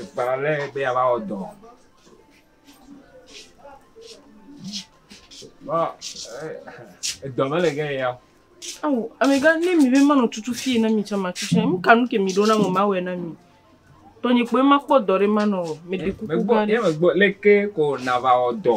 Ekpa ale be yeava wɔ dɔ. Vɔ ee edɔ mele ge ye ya o. Ao, amegã, ne mi be manɔ tutu fie na mi tsã matu tsã, nu ka nu ke miɖo nam o mawɔe na mi. Tɔnye kpoe makpɔ dɔ ɖe manɔ o. Meɖe kuku gã ɖe. Ye megbɔ leke ko nàva wɔ dɔ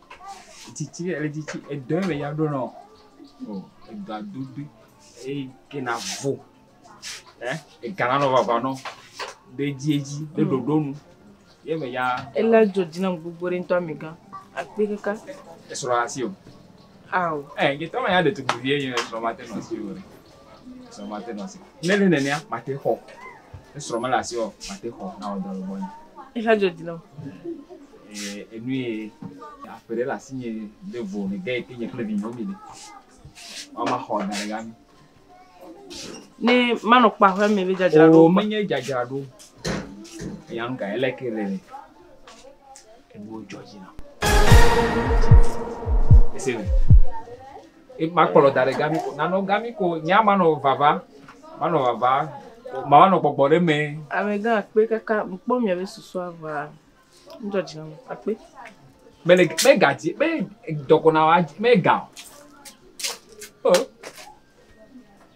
Tsitsi le tsitsi edɔ ye me ya ɖo nɔ o edɔa dodo eye ke na vo ɛ ega na nɔ vava nɔ ɖe dzi edzi ɖe ɖoɖo nu ye me ya. Ele dzo dzi na gbogbo ɖe ŋutɔ mi gã akpi kaka. Esrɔ asi o. Ao. Ɛ ye tɔ ma ya ɖe tukpuvi ye ye esrɔ ma te nɔ asi o. Srɔ̃ mate nɔ si. Ne le nenea, mate xɔ. Ne srɔ̃ mele asi o, mate xɔ na wɔ dɔ le gbɔ nye. Exa dzo di nɔ. Ee, enu ye aƒe ɖe le asi nye ɖe vo ne ge ke nye kple vinyɔ mi le. Wama xɔ da ɖe gami. Ne manɔ kpa ƒe me be dzadzra ɖo. O menye dzadzra ɖo. Eya nu ka ele ke le. Enu dzɔ dzi na. Ese. Makplɔ da ɖe gami ko, nanɔ gami ko, nye ama nɔ vava, manɔ vava, ma nɔ gbɔgbɔ ɖe mɛ. Amegã akpe kaka, mi kpɔ mia be susu aʋa, mi dzɔ dzi na mi akpe. Me le me ga dzi, me dɔkɔ na wa, me ga. Oh.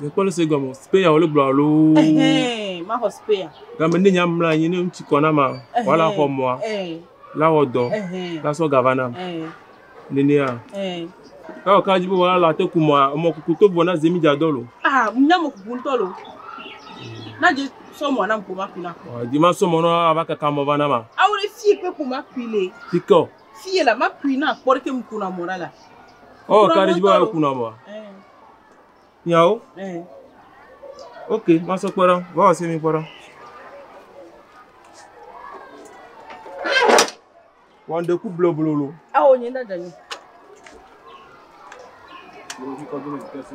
Mekpɔ nu si gɔme speya wole gblɔ alo. Ɛhɛn, maxɔ speya. Game ne nya mla anyi ne ŋutsu kɔ na ma, wala xɔ mɔa, la wɔ dɔ, la sɔ gava nam. Nenea. Ewɔ ka dzi be wala la te ku mɔa, mɔ kuku to vɔ na ze mi dza dɔ lo. Ah, mi nya mɔ kuku ŋutɔ lo. Na dze sɔ mɔa na ŋku ma ku na. Dze ma sɔ mɔ na ava kaka mɔ va na ma. Awo le fi ekpe ku ma ku le. Fi kɔ. Fi yɛ la ma kui na kpɔ ɖeke mu kuna mɔ ɖa la. Oh, ka ɖe dzi bɔ kuna mɔ. Nyawo. Ok, ma sɔ kpɔ ɖa. Vɔ ɔse mi kpɔ ɖa. Wan de ku blo blo lo. Awo nyi nda dani. Wo ji kɔ blo kese.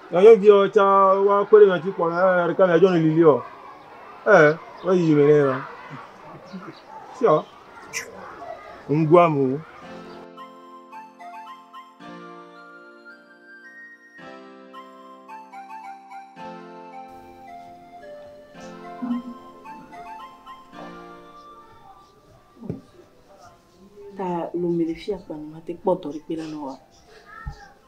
Nyɔnuviwo tsã wa kpe ɖe nyɔnutsi kpɔ na eye ɖeka mia dzɔ nili liɔ ee wo yi me nɛ ma siɔ ŋgua mu. Ta lomele fia kpa ni ma te kpɔ dɔ ɖe kpe la nɔ wa.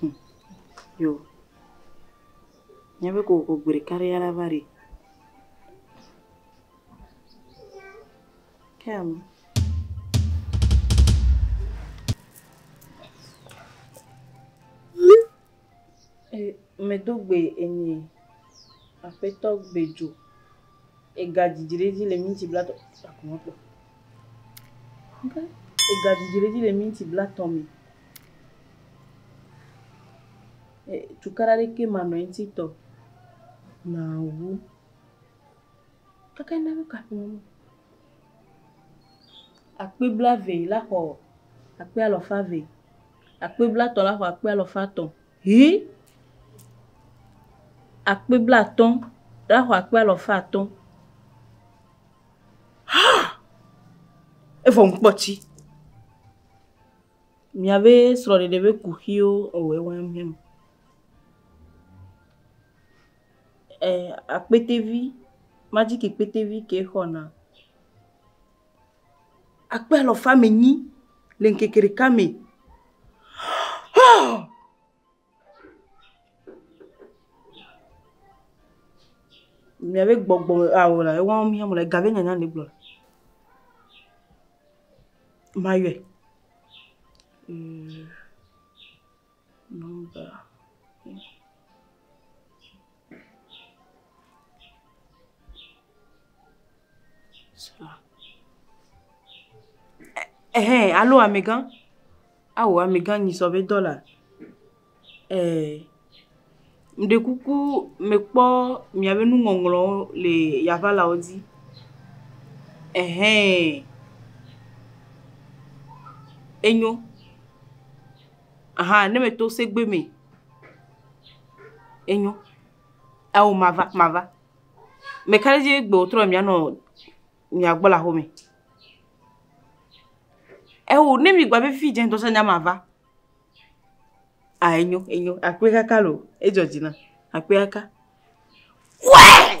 Humm yo míabe kokoko gbe ɖeka ɖe ya la va ɖi. Kem. E, medo gbe enyi aƒetɔ gbedzo. Egadidi ɖe edzi le minti blatɔ̃ Egadidi ɖe edzi le minti blatɔ̃ me. Cukaɖa ɖekɛ manɔ eŋuti tɔ o. Nawu. Kaka ne eva kɔ aƒeme na wò. Akpe blaeve la xɔ akpe alafa eve. Akpe blatɔ̃ la xɔ akpe alafa etɔ̃. Ʋĩ akpe blaatɔ̃ ɖe axɔ akpe alafa atɔ̃. Ha! Evɔ ŋkpɔ tsi. Miabe srɔ̃ɖeɖe be kuxiwo ewɔe wa ŋhɛm. Ɛɛ akpetevi, majiki kpetevi ke xɔna. akpe alafa ame enyi le ŋkeke ɖeka me. Hoo! Mia be gbɔgbɔ ao la, ewɔ mí hã mele ga be nyanya ɖe gblɔ le. Mayɔe. Ɛhɛɛ, alo amɛgã, ao amɛgã nyisɔ be dɔla, ɛɛ, ŋɖe kuku mekpɔ mìabe nuŋɔŋlɔwo le Yaʋalawo dzi, ɛhɛɛ, enyo. Aha ne me to segbe me. Enyo. Ao mava mava. Me ka ɖe dzi egbe wò trɔ mia nɔ mia gbɔ le aƒe me. Eo ne mi gba be fi dze ŋdɔ sa nya mava. Ah enyo enyo akpe kaka loo. Edzɔ dzi nam. Akpe kaka. Wee!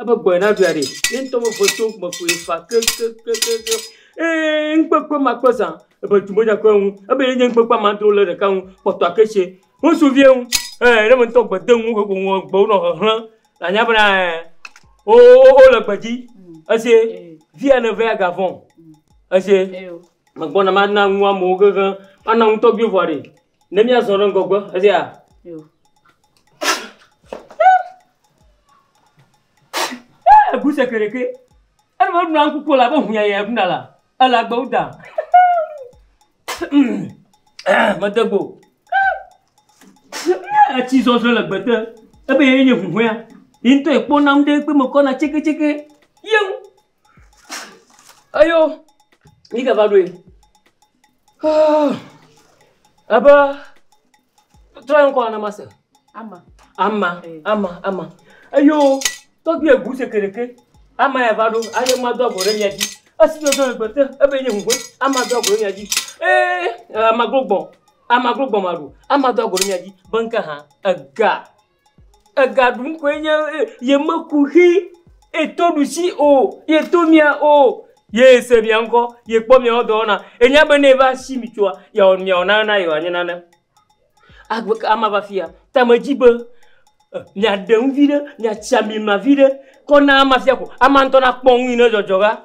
Ebe gbɔe naɖui aɖee. Ye ŋutɔ ƒe ʋeto me koe fa kekekekekeŋ. Ee, ŋukpekpe ma kpɔ zã. Ebe tu medza kpɔe ŋu. Ebe ye nye ŋukpekpe ma do le ɖeka ŋu kpɔtɔa ke tse. Ŋutsuvie ŋu. Ee, ne ame ŋutɔ gbe de ŋu heƒo ŋua gbewo nɔ hehlẽ la anya bena ɛɛ wo wo wole gbe dzi. Ese vie ne vea ga vɔ̃ o. Ese. Megbɔna mana nu amewo kekeŋ. Mana nu tɔgbuiwo vɔ aɖee. Ne míazɔ ɖe ŋgɔgbe, esia. Egu seke ɖeke. Enu me ɖuna ŋku ko la be hunya ya ɖuna la. Ele agbewo da. Mede gbo. Etsi zɔzɔ le gbete. Ebe ye nye huhɔea. Yi ŋutɔ ekpɔ nam ɖe kpe me kɔna tseketseke. Yewu. Eyo yi ke va ɖoe. Haa ebe trɔe ŋkɔ na mase. Ama. Ama. Ama. Ama. Eyo tɔgbi egu sekereke. Ama ya va ɖo. Aye ma do agbo ɖe mia dzi. Esi do do gbete ebe nye ŋgbe. Ama do agbo ɖe mia dzi. Ee ama glo gbɔ. Ama glo gbɔ ma ɖo. Ama do agbo ɖe mia dzi. Be ŋke ha ega. Ega ɖum koe nye ye. Ye meku xi ye to ɖusi o. Ye to mia o. Ye se mia ŋkɔ. Ye kpɔ miawo dɔ wɔna. Enya be ne eva si mi tsoa, yeawɔ nu miawɔ nane na ye wòanye nane. Agbe ka ema va afia? Ta medzi be miaɖe nu viɖe, miatsi ami ma viɖe kɔ na ama fia ko ama ŋutɔ nakpɔ nu yi ne dzɔdzɔ va.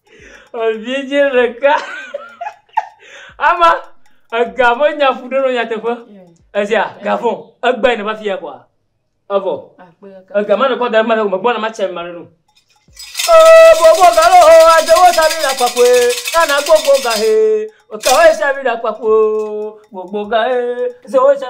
Evidzɛ ɖeka ama ega ƒe nya ƒo ɖi nɔ nyateƒe esia ga vɔ egbe ne va fiya kɔa evɔ ega ma ne kɔ da ɖe mele megbɔ na matsɛ ma ɖe nu. Oo gbogbo ga lo ho adewo sa mi ɖa kpakue nana gbogbo ga he eka wo sa mi ɖa kpakue o gbogbo ga he ese wo sa.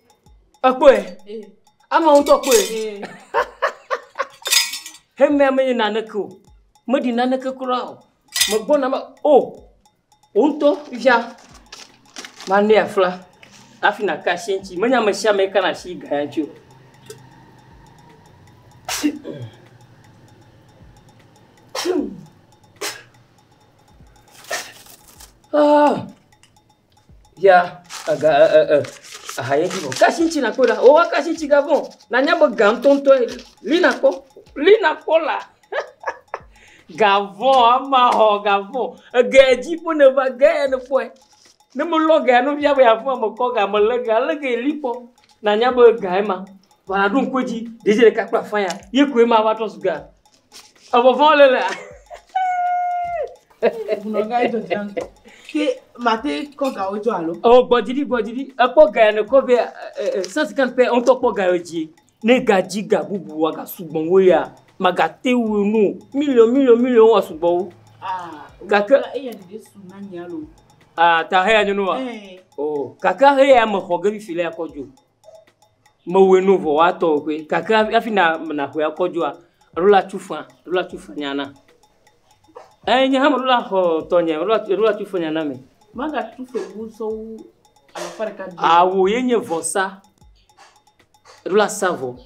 Ekpɔe. Ama ŋutɔ kpɔe. Hemea menye naneke o. Meɖi naneke kura o. Megbɔna me o. Wò ŋutɔ fifia manɛ afla hafi nàka asi eŋuti. Menye ame sia ame kana asi ga ya ŋuti o. Ah! ya ega ɛ ɛ ɛ aha ye dzi vɔ. Ke asitsi nakpɔ ɖa o eke asitsi ga vɔ. Nanya be ga ŋutɔŋutɔ ye ɖi. Li nakpɔ li nakpɔ la ga vɔ ama xɔ ga vɔ. Ege ya dzi ƒe ne va ge ya ne kpɔe. Ne me lɔ ga no fia be ya fɔa me kɔ ga me le ga le ge li kpɔ nanya be ga ye ma. Vɔa ɖo ŋku edzi ɖevi ɖeka kple afã ya ye koe ma va trɔ zu ga. Evɔvɔ̃ le lea. Bunɔga yi dɔdzi an. Ke mate kɔ gawo dzɔ alo. O gbɔdzidi gbɔdzidi ekpɔ ga ya nekɔ be sɛnsi kan pɛ ŋutɔ kpɔ ga yɔ dzi. Ne gadzi ga bubu wa ga sugbɔ wo ya magate wo nu miliɔn miliɔn miliɔn wa sugbɔ wo. Ah, gake eya ɖeɖe su na nya lo. Ah, ta heya nyo no wa. Eh. Oh, gake heya me xɔ ge bi fi le akɔ jo. mewɔe ne vɔ woatɔ wò ƒe gake hafi nàƒle akɔ dzoa, eɖo la tu faa, eɖo la tu faa nyana. Eyi nye hã meɖo la xɔ tɔnye, eɖo la tu, eɖo la tu faa nyana me. Magatu fewu sɔ wu alafa ɖeka biã. Awu ye nye vɔsa, eɖo la sa vɔ.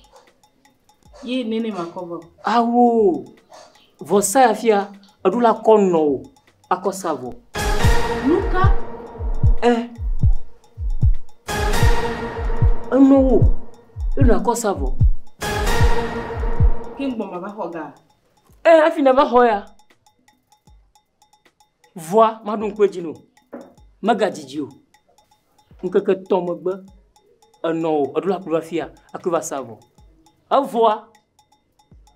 Ye nene makɔ vɔ. Ao, vɔsa ya fia eɖo la kɔ nɔ o akɔ sa vɔ. Nuka? Ɛ. Enɔ wo eɖo la kɔ sa vɔ. Ke gbɔ ma va xɔ ga. Ɛ, afi na va xɔ ya. Vɔa maɖo ŋku edzi nɛ o. Megadidi o. Ŋkeke etɔ̃ megbe, enɔ o, eɖo la ku ɖo afia, akɔe va sa vɔ. Evɔa,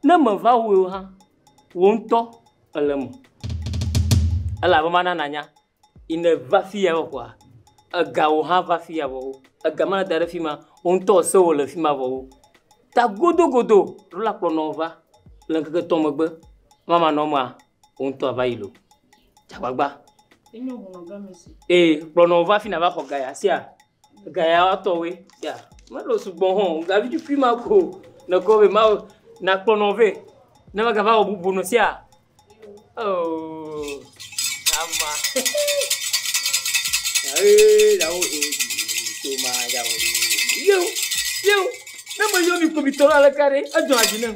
ne meva wui o hã, wò ŋutɔ èle eme. Elabe mana nànya, yi ne èva fiya vɔ kɔa, egawo hã va fiya vɔ. Ega ma nèda ɖe fi ma, wò ŋutɔ èse wòle fi ma vɔ. Ta godogodo, eɖo la kplɔ nɔwò va le ŋkeke etɔ̃ megbe. Ema manɔ emea? Wò ŋutɔ àva yi lo. Dze agbagba. Ee, kplɔ nɔ va fi na va xɔ gaya sia. Gaya atɔwoe. Ya, melo sugbɔ hã o. Gavi tukui ma ko nèkɔ be Mawu nakplɔ nɔ vɛ. Ne megava wɔ bubu nɔ sia. Oh, ama. Ee, ɖawo zo. Tso ma ɖawo. Yo, yo. Ne meyɔ mi kpovitɔ la le ka ɖe, edzɔna dzi nam.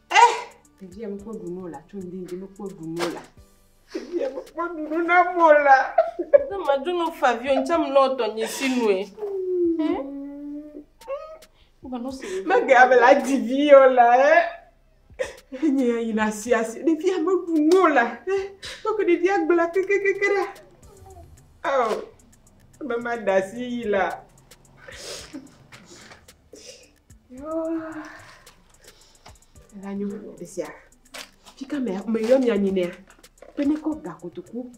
Eh, ɖevia mekpɔ ɖu nɔ la, tso ŋdindi mekpɔ ɖu nɔ la. Ɖevia mekpɔ ɖu nɔ na mɔ la. Ne madu nɔ favio, ŋtsɛ mlɔ ɔtɔ nye si nue. Mege ame la di vi yɔ la, eh. Enye ya yina si asi, ɖevia meɖu nɔ la, eh. Tɔke ɖevia gbla kekekeke ɖa. Oh, ebe ma da si yi la. Elanyo esia. Fika me me yɔ mi anyi nea. Pe ne ko ga kotoku.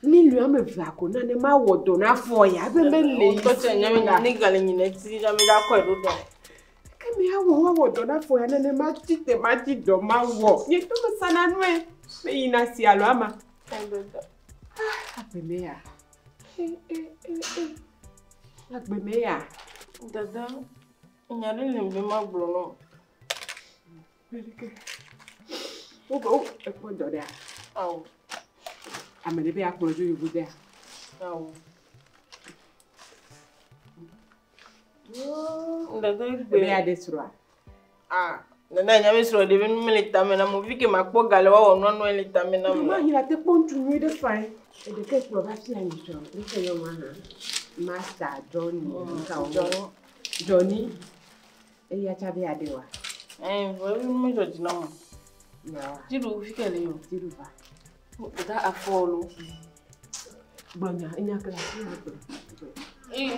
Ni lu ame ve ko na ne ma wo do na fo ya be me le. O to che nyame na ni gale nyi ne ti na mi da ko e do do. Ke mi ha wo wo do na fo ya ne ne ma ti te ma ti do ma wo. Ni to me sana nwe. Me yina si alo ama. Abe me ya. Agbe me ya. Dada, nya ɖe le be magblɔ nɔ. Wobe wo ekpɔ dɔ ɖea? Ao. Ame ɖe be akplɔ dzo yovo dea? Ao. Dada gbe. Ebe ya de srɔa? Ah, nana nya mi srɔ ɖevi nu mele tame na mo vike makpɔ ga le wawɔ nua nua le tame na mo. Ma hila te kpɔ ŋutsu nyui ɖe fain. Eɖe ke kplɔ va fia mi srɔ. Mi ke yɔ ma hã. Master Johnny. Mm, ka wo. Johnny. Johnny. Eya cha be ade wa. Eh, vɔ evi nu me jɔ dzi na mo. Ya. Tiɖu fike le yo. Tiɖu va. Dada afɔlu. Gblɔ nya, enya ke le afi ma gblɔ. Ee,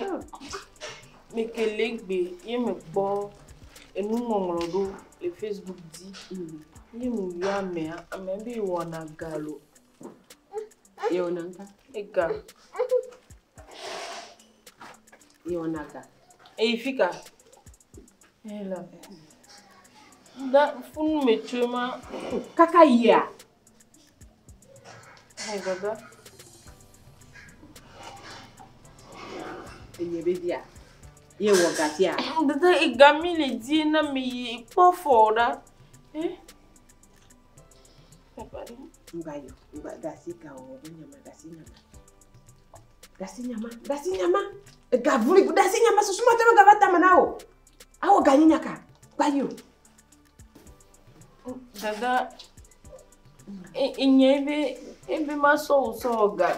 mekele gbe ye mekpɔ enuŋɔŋlɔ ɖo le Facebook dzi. Mm. Ye meyɔ amea, amea be yewɔna galo. Yewɔna ŋka? Ega. Yewɔna ga. Eyi fi ka? Eyi le. Da funu me tsoe ma. Kaka yia? Enye be bia. Ye wɔ gatia. Dede igami le di na mi yi kpɔ fɔ ɖa. Eh? Nga yo, nga gasi ka o, be nyama gasi nyama. Gasi nyama, gasi nyama. Ega vuli, gasi nyama susuma tama gava tama na o. Awo ganyi nyaka. Ba yo. Dada, inye ebe ebe masɔ wò sɔ wɔ ga.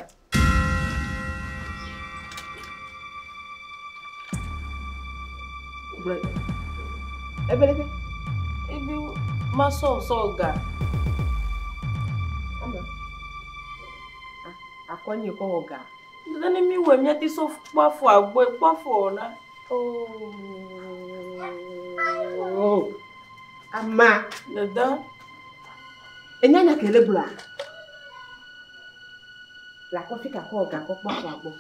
Ebe ebe ebe masɔ wò sɔ wɔ ga. Akɔ nye kɔ wɔ ga. Nene ne mi wɛ miati so kpɔfo agboe kpɔfo na. Oh. Ama. Dada. Enya nya kele bla. La kɔfi ka kɔ ga kɔ kpɔfo agbo.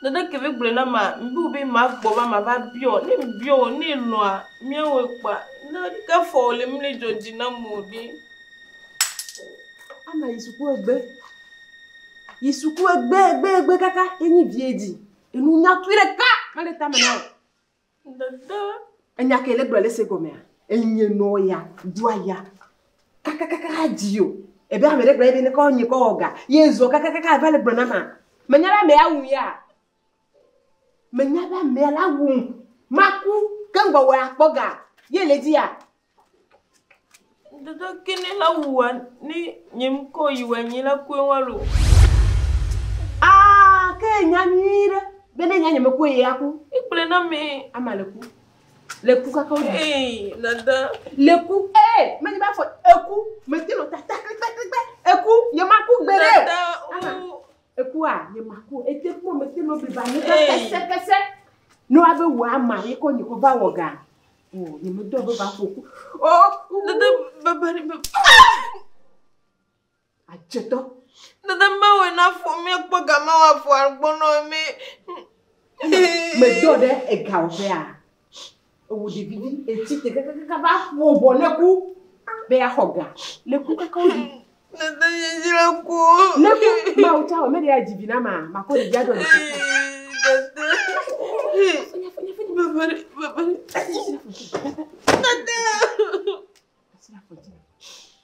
Dada keve gblɔ na ma mbi be ma gbɔ va ma va biɔ ne biɔ ne lɔa miawe kpa ne ka fɔ le mi ne jɔji na mo de. Ama yi suku egbe. Yi suku egbe egbe egbe kaka ye nyi vie dzi. Enu nyatui ɖeka mele tame na wò. Dede. Enya ke le gblɔ le se gɔmea? Enye nɔ ya, do aya. Kaka kaka dzi yo. Ebe ame ɖe gblɔ ebe ne kɔ nye kɔ wɔ ga. Ye zɔ kaka kaka va le gblɔ na ma. Menya be ame ya wu ya. Menya be amea la wum. Maku ke ŋgbɔwɔe akpɔ ga ye le dziya. Dodo kini la wua ni nyim ko yi wɔ nyi la kue walo. Ah, ke nya nyui ɖe be ne nya nye me kue ye aku. Ikple na me. Ama le ku. Le ku kaka wodi. Hey, dada. Le ku. Eh, me nyi ba fo eku. Me tino ta ta klikpe klikpe. Eku, ye ma ku gbe de. Dada, oh. Ekua nye maku ete kpɔ mete no biba nye ka kese kese no abe wo ama ye ko nye ko ba wo ga o nye me do be ba ko ku o ku dede ba ba ni ba a cheto dede ba wo na fo me ko ga ma wa fo argbo no me me do de e ga o be a ewɔ ɖevi ɖi etsi te kakakaka va ƒo bɔ ne ku be axɔ ga ne ku kaka wo ɖi. Nete yi dzra ku. Ne ku ma wo tsa wɔ mɛ de ya dzi vi na ma ma kɔ ɖevi adɔ ɖe. Nete. Bebe bebe. Nete.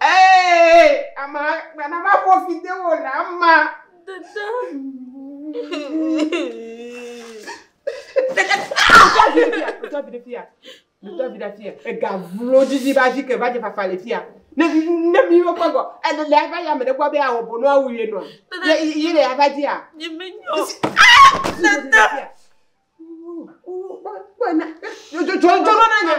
Ee, ama gbana va ƒo fi de wo le ama. Dada. Dada. Dada vi ɖe fia, dada vi ɖe fia. Dada vi ɖe fia. Ega vlo didi ba zi ke va je fafa le fia. Ne ne mi wo kpɔgɔ, ele le ava ya me ɖe gbɔ be awɔ bonu awu ye nɔ. Dada. Yi le ava dia. Nye me nyo. Dada. Kpɔ na. Jɔ jɔ jɔ na nya.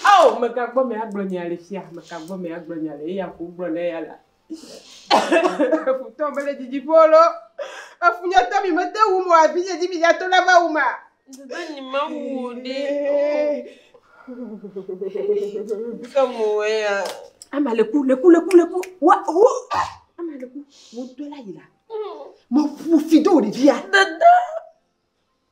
Ao! Meka gbɔ mea gblɔ nya le fia, meka gbɔ mea gblɔ nya le eya ko gblɔ le eya la. Efutɔ mele dzidzi ƒo lo. Efu nye tɔ mi mete wu mo abi nye dzi mi ya to la va wu ma. Dede nyi ma wu o de. Ke mo ya. Ama le ku le ku le ku le ku. Wa ho. Ama le ku. Mo do la yi la. Mo fu fi do de via. Dede.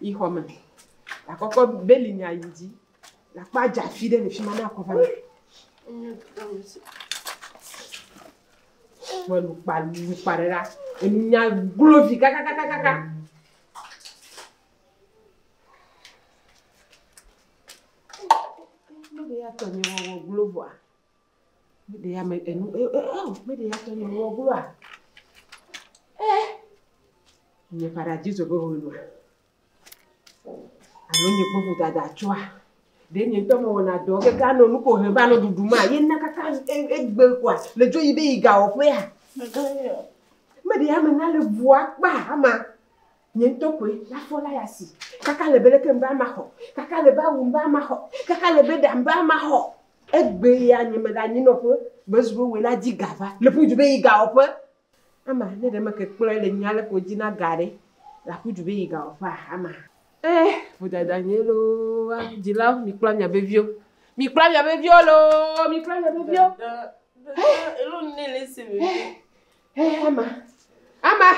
yi xɔ me. Akɔ kɔ beli nya yi dzi. Akɔ adza fi ɖe le fi ma ne akɔ va. Wɔ nu kpa nu kpa ɖe la. Enu nya glo vi kakakakaka. Ne be ya tɔ ni wɔ glo vɔa. Meɖe ya me enu e e e o meɖe ya tɔ nyɔnu wɔ gloa. E nye ƒaɖa dzi zɔ be ho nua. Alo nye kpɔ ƒo dada tsɔa. Ɖe nye ŋutɔ me wɔna dɔ keke anɔ nu ko he va nɔ ɖuɖu ma ye na kaka e egbe koa le dzo yi be yi ga wɔ ƒea. Meɖe ya me na le bua kpa ama. Nye ŋutɔ koe le afɔ la ya si. Kaka le be leke ŋbe ama xɔ. Kaka le be awu ŋbe ama xɔ. Kaka le be ɖa ŋbe ama xɔ. Egbe ya nye me ɖe anyi nɔƒe be zu be woe la dzi ga va. Le ƒu du be yi ga wɔƒe. Ama, ne ɖe me ke kplɔe le nyuia le ko dzi na ga ɖe, la ƒu du be yi ga wɔƒea? Ama. Eh, vodada nye loo, ah, dzilawo, mi kpla mia be viwo. Mi kpla mia be viwo loo, mi kpla mia be viwo. Eh, Hehema, ama,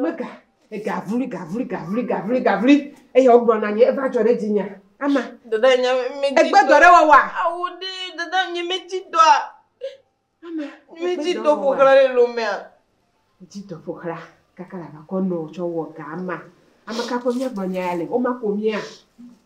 mega, gavli, gavli, gavli, gavli, gavli, eye wogblɔ na nye, eva dzɔ ɖe dzinya. Ama, dada nye medzi egbe dɔ ɖe wɔwɔa? Awu ɖi, dada nye medzi dɔa. Ama, medzi dɔ ƒoxla ɖe lomea. Medzi dɔ ƒoxla, kaka la vakɔ nɔ tsɔ wɔ ga ama. Ame ka ƒe míagblɔ nya ya le? Woma ko mía.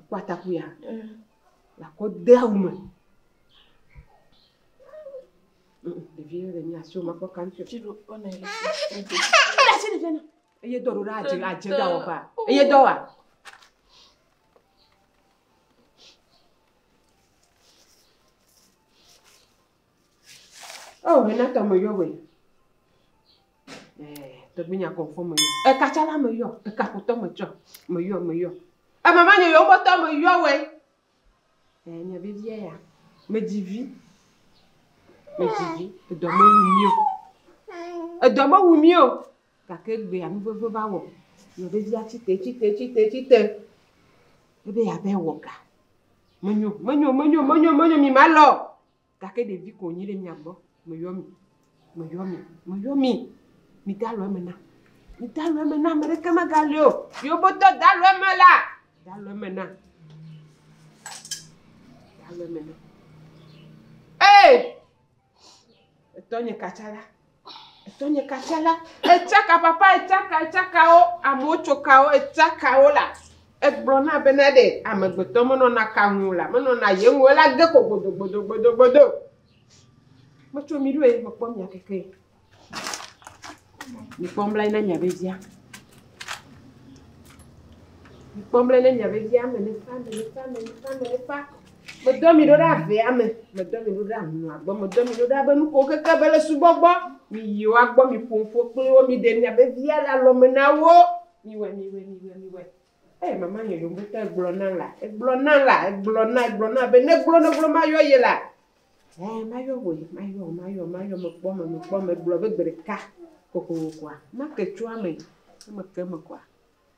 Ekɔ atakuia le akɔ de awu me. Ɖevi ɖe le nyi asi wòme akpɔ kantɛ o. Eye dɔ ɖo ɖa adze adze ɖa wɔ ba. Eye dɔ wa. Oh, hena tɔme yɔ wɛ. Tɔgbinya kɔfɔ me yɔ. Eka tsala me yɔ. Eka kotɔ me tsɔ. Me yɔ, me yɔ. Ema ma nye yewo bɔtɔ me yɔ wɛ. Eh, nya vevia ya. Me dzi vi. Me dzi vi. Edɔ me wu mio. Edɔ me wu mio. Gake egbe ya nuveve va wɔ. Nya vevia tsite, tsite, tsite, tsite. Ebe ya be wɔ ga. Menyo, menyo, menyo, menyo, menyo, mi ma lɔ. Gake ɖevi ko wònyi ɖe mia gbɔ. Meyɔ mi, meyɔ mi, meyɔ mi. Midalɔ eme nam. Midalɔ eme nam, ame ɖeke megali o. Yewo be tɔ dalɔ eme la, dalɔ eme nam. Dalɔ eme nam. Ee! Etɔnye katsala. Tɔnyeka tsɛ la, etsaka papa, etsaka, etsakawo, amewo tso kawo, etsakawo la, egblɔ na bena ɖe amegbetɔ menɔna ka ŋu o la, menɔna ye ŋu o, ela ge ko gbodogbodogbodo. Metso mi ɖo ye, mekpɔ mia keke ye. Mikpɔ ŋbla yi na mia vevia. Mikpɔ ŋbla yi na mia vevia, ame ne fa, ame ne fa, ame ne fa, ame ne fa. Medɔ mi ɖo ɖe avea me, medɔ mi ɖo ɖe ahlɔ̃a gbɔ, medɔ mi ɖo ɖe abe nu ko keke be le subɔ gbɔ. Miyi woa gbɔ, miƒo nu ƒo kpli wo, miɖe miabe via le alɔme na wo. Miwɔe, miwɔe, miwɔe, miwɔe. Ee, mama nye yomotɔ, egblɔ na la, egblɔ na la, egblɔ na, egblɔ na be neglo, neglo mayɔ ye la. Ee, mayɔ wòe, mayɔ, mayɔ, mayɔ, mekpɔ me, mekpɔ me, gblɔ be gbe ɖeka kokokokoa, make tso eme, ne meke eme koa,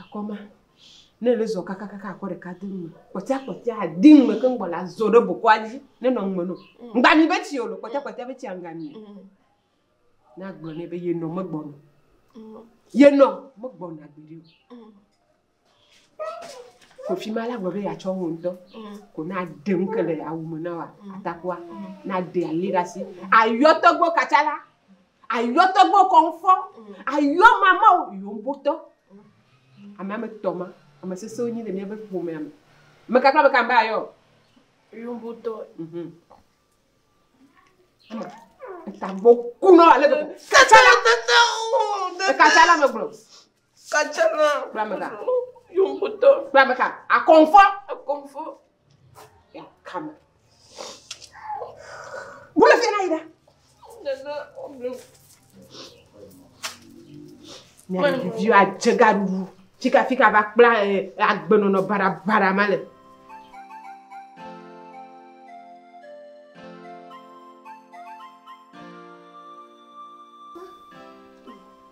Akɔ ma, ne ele zɔ kakakaka akɔ ɖeka de nu me. Kpɔtɔa kpɔtɔa adi nu me keŋ gbɔ la zɔ ɖe bokɔa dzi ne nɔ nume no. Ŋgba mi be tsi o lo kpɔtɔa kpɔtɔa be tsia ŋgba mi o. Ne agblɔ nɛ be yenɔ megbɔna o. Yenɔ megbɔna gbeɖe o. Kofi ma la gblɔ be yeatsɔ wò ŋutɔ ko na ɖe nu ke le awu me na wa atakua na ɖe ali ɖe asi ayɔ tɔgbo katsa la ayɔ tɔgbo kɔnfɔ ayɔ mama o yɔ ŋbotɔ ame ame tɔ ma ame sese wonyi le míaƒe ƒomea me me kakra me kan be ayɔ yɔ ŋbotɔ mhm ama etagbo kunɔ ale gbegbe katsa la katsa la me gblɔ Kadzana. Kpla me ka. Yomotɔ. Kpla me ka. Akɔnfɔ. Akɔnfɔ. Ya kame. Bolo fi na yi da. Nana ɔblu. Ne ɖeviwo adze gaɖuɖu. Fika fika va kpla eh, agbenɔnɔ baɖabaɖa ma le.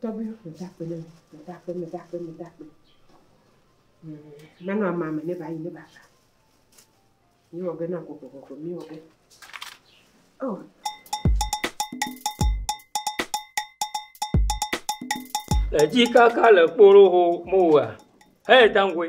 Tɔgbuiwo, mede akpe ne mi, mede akpe, mede akpe, mede akpe. Manɔ ama me ne bayi ne bava. Mi wɔ ge na gogogogo, mi wɔ ge. Oh. Edzi kaka le kporoho mowa. Hey, Dangoe.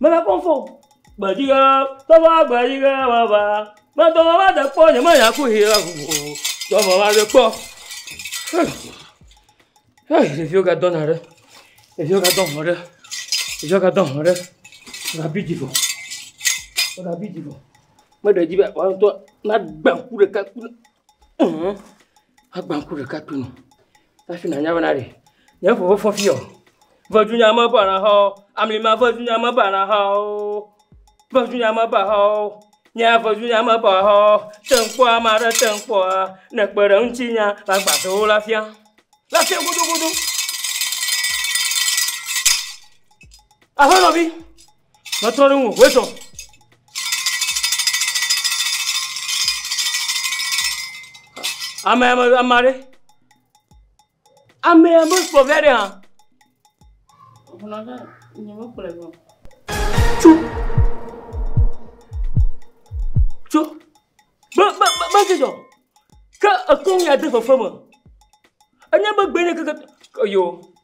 Mele kpɔm fɔ o. Gbedzi ʋe, togbɔ be gbedzi ʋe meva. Medo ŋɔ va de kpɔ nye me nya ku yi ɖe ŋu o. Togbɔ be meva de kpɔ. Hɛɛ hɛɛ ɖeviwo ga dɔna ɖe. Ɖeviwo ga dɔ ŋɔ ɖe. Ɖeviwo ga dɔ ŋɔ ɖe. Wo ga bi dzi vɔ. Wo ga bi dzi vɔ. Me ɖe dzi be woa ŋtɔ na gba ŋku ɖeka kple eɛ̃ agba ŋku ɖeka kple nu. Hafi nànya bena ɖe nye ƒo vefɔ fiɔ. Vedunya me ƒe alẽhawo, amlima vedunya me ƒe alẽhawo, vedunya me ƒe alẽhawo, nye vedunya me ƒe alẽhawo, te ŋkpɔ ame aɖe te ŋkpɔa, ne èkpe ɖe ŋutinyea, magbãtɔ wo le afia. Le afia gudugudu. Aƒenɔvi, Metrɔ ɖe ŋu, hoe sɔ. Ame ame ame aɖe. Ame ame kplɔ via ɖe hã. Ʋunɔ ɖe nye me kplɔ vɔ. Tso. Tso. Be be be be ke jɔ. Ke ekɔn ya de fefe me. Enye be gbe ne keke. Yo.